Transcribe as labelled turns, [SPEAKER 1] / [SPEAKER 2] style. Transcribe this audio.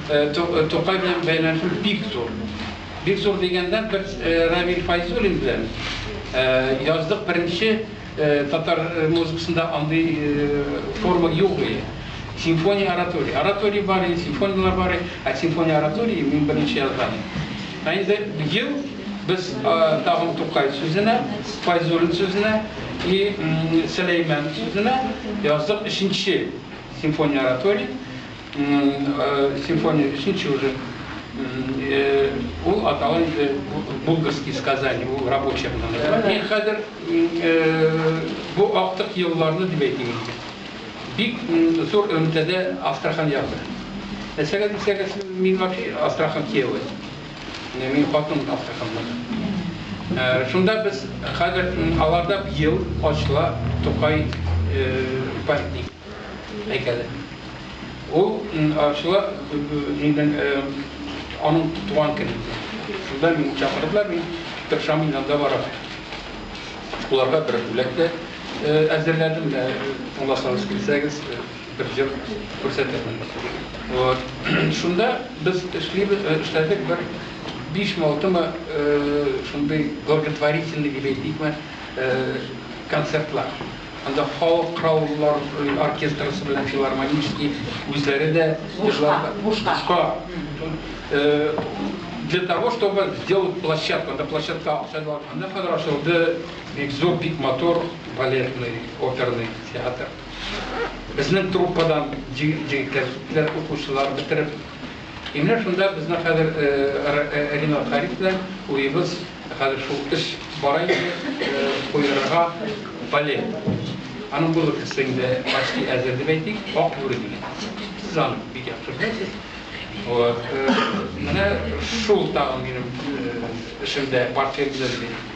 [SPEAKER 1] Тукай белән бәйләнешем бик зур. Бик зур дигәндә, без Равил Файзуллин белән яздык беренче татар музыкасында андый форма юк иде. Симфония оратория. Оратория бар иде, симфонияләр бар иде, ә симфония оратория мин беренче язган идем. Ә инде ел без тагын Тукай сүзенә, Файзуллин сүзенә и Сөләйман сүзенә яздык өченче симфония оратория. Симфония бишенче уже. Ул атала инде Булгарские сказания, ул рабочий аталар. Мин хәзер бу актык елларны дип әйтим инде. Бик зур элемтәдә Астрахань ягы. Нәрсәгә дисәгез, мин вообще Астрахань кияве. Мин хатыным Астраханьнан. Шунда без хәзер аларда бил, ачлар, тукай, пастик. Һәйкәле. Ул ачыла, нидән, аның туган көнендә. Шунда мине чакырдылар, мин тырышам, мин анда барам. Аларга бер бүләк тә әзерләдем, менә тыңласагыз килсәгез, бер җыр күрсәтермен. Вот. Шунда без эшлибез, эшләдек бер бишме, алтымы шундый благотворительный дип әйтикме, концертлар. Анда халык кыраулылар оркестрысы белән филармонический үзләре дә җырларга. Бушка. Для того, чтобы сделать площадку, анда площадка акча да анда хәзер ачылды бик зур, бик матур балетный, оперный театр. Безнең труппадан җегетләр киттеләр, укучылар бетереп. И менә шунда безнең хәзер Ринат Харис белән уебыз Ә хәзер шул эш бара иде, куерырга балет. Аның бу өлкәсе инде почти әзер дип әйтик, Ак бүре дигән. Сез аны бик яхшы беләсез. Вот. Менә шул тагын минем эшемдә, портфелемдә дип әйтик.